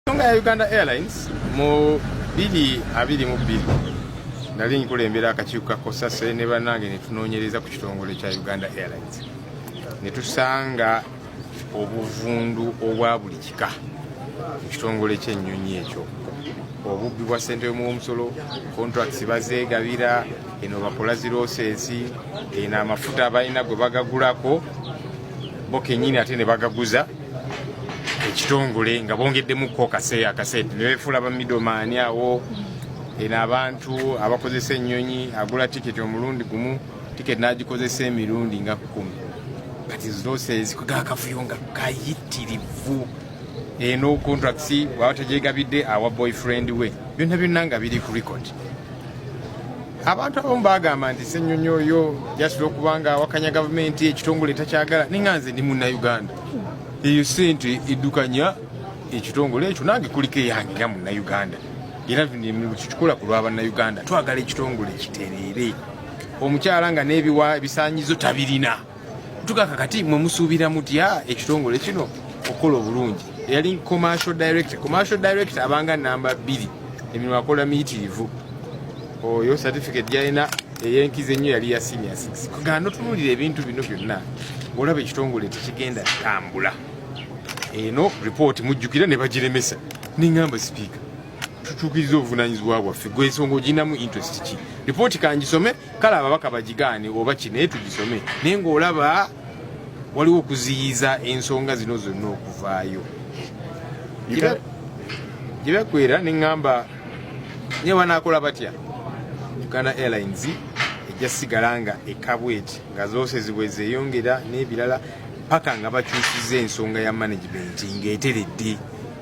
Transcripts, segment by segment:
Ensonga ya Uganda Airlines mu biri abiri mu bbiri nali nkulembera akakiiko ka kosase ne bannange ne tunoonyereza ku kitongole kya Uganda Airlines ne tusanga obuvundu obwa buli kika mu kitongole ky'ennyonyi ekyo obubbi bwa ssente y'omuwomusolo contracts bazeegabira eno bakola zirooseesi eno amafuta balina gwe bagagulako bo kenyini ate ne bagaguza ekitongole nga bongeddemu ko kaseera akaseera ne befuula ba midomaani awo eno abantu abakozesa ennyonyi agula tiketi omulundi gumu tiketi n'agikozesa emirundi nga kkumi kati zosezi kugakafuyo nga kayitirivu eno contracts waba tegyegabidde awa boyfriend we byonna byonna nga biri ku record abantu abamu bagamba nti senyonyi oyo jasula okubanga awakanya gavumenti ekitongole takyagala ninga nze ndi munauganda eyo sente edukanya ekitongole ekyo nange kuliko eyange nga munauganda era tukikola ku lwabannauganda twagala ekitongole kitereere omukyala nga n'ebiwa ebisanyizo tabirina tukaka kati mwe musuubira mutya ekitongole kino okukola obulungi yali commercial director commercial director abanga namba bbiri emirimu akola miyitirivu oyo certificate gyalina eyenkiza ennyo yali ya senior 6 kugana notunulira ebintu bino byonna ngaolaba ekitongole tekigenda tambula eno report mujjukira ne bagiremesa nengamba sipiika tutuukiriza obuvunanyizibwa bwaffe gwensonga oginamu interest ki report kangisome kale ababaka bagigaane oba ki naye tugisome naye ng'olaba waliwo okuziyiza ensonga zino zonna okuvaayo gyebakwera neŋŋamba naye banaakola batya uganda airlines ejja sigala nga ekabweti nga zose zibwe zeyongera n'ebirala paka nga bakyusiza ensonga ya management ng'eteredde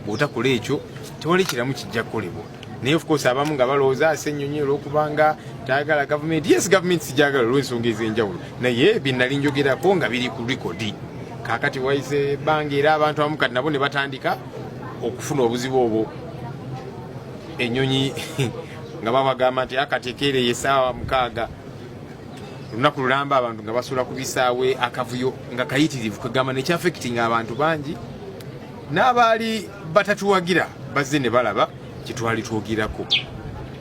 bw'otakola ekyo tewali kiramu kijja kukolebwa naye of course abamu nga balowooza ase ennyonyi olwokubanga tayagala gavumenti yes gavumenti sijagala olwensonga ez'enjawulo naye byenali njogerako nga biri ku rikodi kakati waise ebbanga era abantu abamu kati nabo ne batandika okufuna obuzibu obwo ennyonyi nga babagamba nti akatekeere ah, yesaawa mukaaga olunaku lulamba abantu nga basula ku bisaawe akavuyo nga kayitirivu kwegamba nekyafekitinga abantu bangi n'abaali batatuwagira bazze ne balaba kye twali twogerako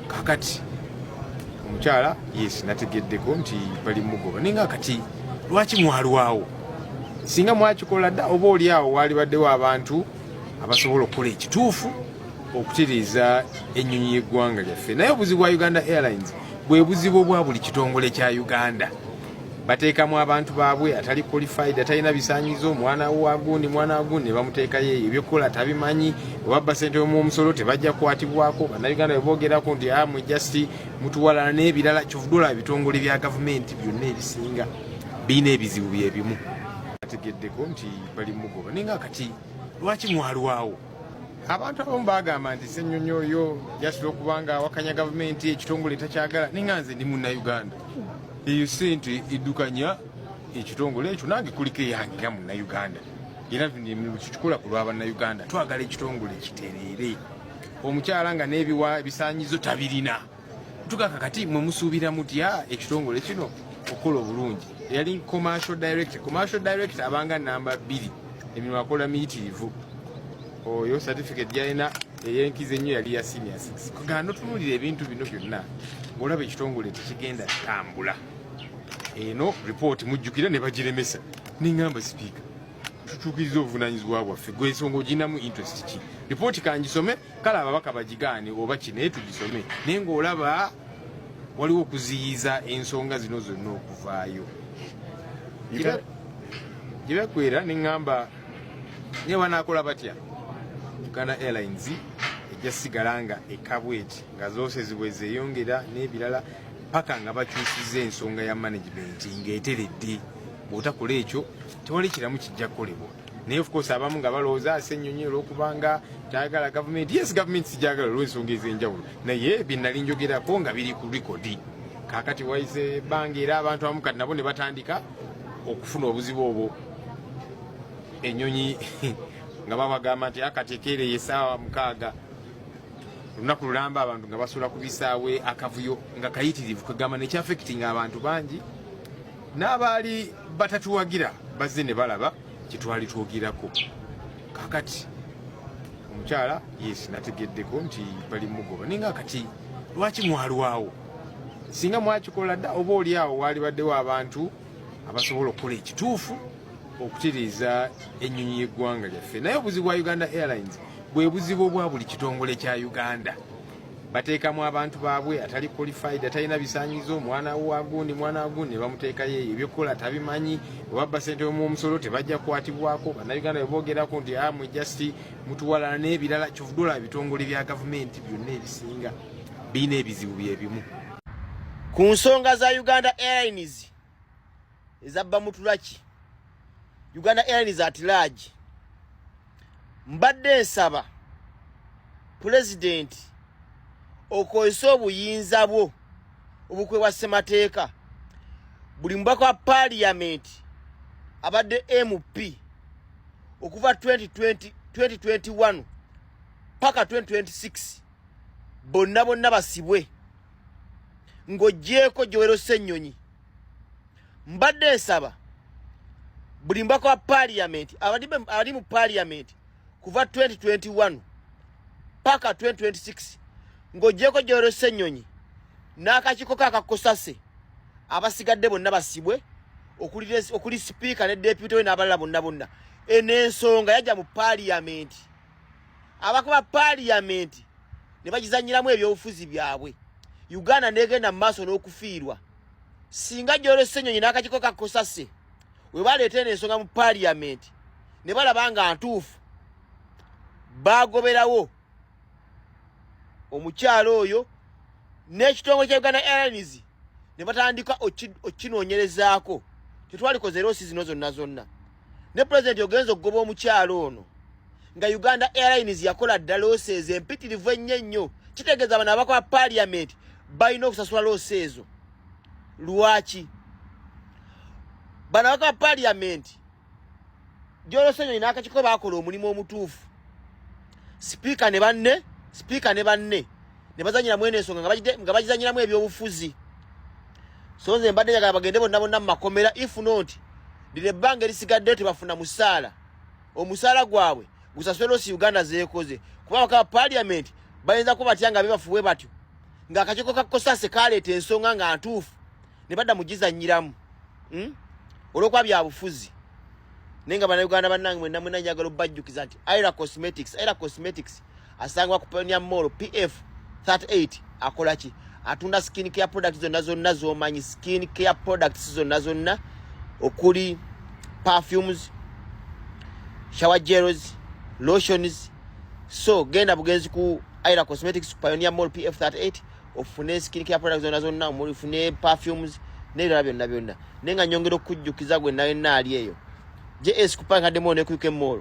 kakati omukyala yes nategeddeko nti bali mugoba naye nga kati lwaki mwalwawo singa mwakikola dda oba oli awo waalibaddewo abantu abasobola okukola ekituufu okutereeza ennyonyi y'eggwanga lyaffe naye obuzibu bwa uganda airlines bwe buzibu obwa buli kitongole kya uganda bateekamu abantu baabwe atali qualified atalina bisanyizo mwana wagundi mwana wagundi nebamuteekayo eyo ebyokukola tabimanyi obabba sente yomuomusolo tebajja kukwatibwako bannayuganda bebogerako nti amwe ah, just mutuwalana n'ebirala kyovudula ebitongole bya gavumenti byonna ebisinga birina ebizibu byebimu ategeddeko nti bali mugoba naye nga kati lwaki mwalwawo abantu abamu bagamba nti senyonyi oyo yasula okubanga awakanya gavumenti ekitongole takyagala ninga nze ndi munauganda eyo sente edukanya ekitongole ekyo nange kuliko eyange nga munauganda era tukikola ku lwabannauganda twagala ekitongole kitereere omukyala nga n'ebiwa ebisanyizo tabirina tukaka kati mwe musuubira mutya ekitongole kino okukola obulungi eyali commercial director commercial director abanga namba bbiri emirimu akola miyitirivu oyo certificate gyalina eyenkiza ennyo yali ya senior six kugana notunulira ebintu bino byonna ngaolaba ekitongole tekigenda tambula eno report mujjukira ne bagiremesa nengamba sipiika tutuukiriza obuvunanyizibwa bwaffe gwensonga oginamu interest ki report kangisome kale ababaka bagigaane oba ki naye tugisome naye ng'olaba waliwo okuziyiza ensonga zino zonna okuvaayo gyebakwera neŋŋamba naye banaakola batya uganda airlines ejja sigala nga ekabweti nga zose zibwe zeyongera n'ebirala paka nga bakyusiza ensonga ya management ng'eteredde bw'otakola ekyo tewali kiramu kijja kukolebwa naye of course abamu nga balowooza ase ennyonyi olwokubanga tayagala gavumenti yes gavumenti sijagala olwensonga ez'enjawulo naye byenali njogerako nga biri ku rikodi kakati waize ebbanga era abantu abamu kati nabo ne batandika okufuna obuzibu obwo ennyonyi nga babagamba nti akati ekeereye esaawa mukaaga olunaku lulamba abantu nga basula ku bisaawe akavuyo nga kayitirivu kwegamba nekyafekitinga abantu bangi n'abaali batatuwagira bazze ne balaba kyetwali twogerako kakati omukyala yes nategeddeko nti bali mugoba naye nga kati lwaki mwalwawo singa mwakikola dda oba oli awo waalibaddewo abantu abasobola okukola ekituufu okutereeza ennyonyi y'eggwanga lyaffe naye obuzibu bwa uganda airlines bwe buzibu obwa buli kitongole kya uganda bateekamu abantu baabwe atali qualified atalina bisanyizo mwana wagundi mwana wagundi nebamuteekayo eyo ebyokukola tabimanyi webabba sente omusolo tebajja kukwatibwako bannayuganda bebogerako nti ah, mwe just mutuwalana n'ebirala kyovudula ebitongole bya gavumenti byonna ebisinga birina ebizibu byebimu ku nsonga za uganda airlines ezabba mutulaki uganda airlines at large mbadde nsaba pulezidenti okozesa obuyinza bwo obukwebwa ssemateeka buli mubaka wa paaliyamenti abadde mp okuva 2020, 2021 paka 2026 bonna bonna basibwe ng'oggyeeko Joel Ssenyonyi mbadde nsaba buli mbaka wa parliament abali mu parliament kuva 2021 paka 2026 ng'ogyeko gyoro ssenyonyi n'akakiiko ka kakosase abasigadde bonna basibwe okuli sipiika ne deputy we n'abalala bonna bonna eno ensonga yajja mu parliament abakuba parliament ne bagizanyiramu ebyobufuzi byabwe uganda negenda mu maaso n'okufiirwa singa gyolesa ennyonyi n'akakiko kakosase we baleeta eno ensonga mu parliament ne balaba nga ntuufu baagoberawo omukyalo oyo n'ekitongole kya uganda airlines ne batandika okukinoonyerezaako tetwalikoze eroosi zino zonna zonna ne pulezidenti ogenza okugoba omukyalo ono nga uganda airlines yakola dda loosi ezo empitirivu ennyo ennyo kitegeeza bano abakola paliamenti balina okusasula loosi ezo lwaki bano abakola paliamenti gyolosenyo inakakiko bakola omulimu omutuufu sipiika ne banne sipiika ne banne ne bazanyira mwene ensonga nga bagizanyiramu ebyobufuzi so nze mbadde njagala bagende bonna bonna mu makomera if not lino ebbanga erisigaddeyo tebafuna musaala omusaala gwabwe gusaswera osi uganda zeekoze kuba bakaba paliamenti bayinza kuba batya nga bebafuwe batyo ng'akakiiko ka kosase kaleeta ensonga nga ntuufu ne badda mu gizannyiramu hmm? olwokuba byabufuzi naye nga banauganda bannange mwenna mwenna njagala obajjukiza nti ira cosmetics ira cosmetics asangibwa ku Pioneer Mall PF 38 akola ki atunda skin care products zonna zonna z'omanyi skin care products zonna zonna okuli perfumes shower gels lotions so genda bugenzi ku Ira Cosmetics ku Pioneer Mall PF 38 ofune skin care products zonna zonna omuli fune perfumes n'ebirala byonna byonna naye nga nyongera okujjukiza gwe nawe naali eyo js kupanga demo ne kuike mall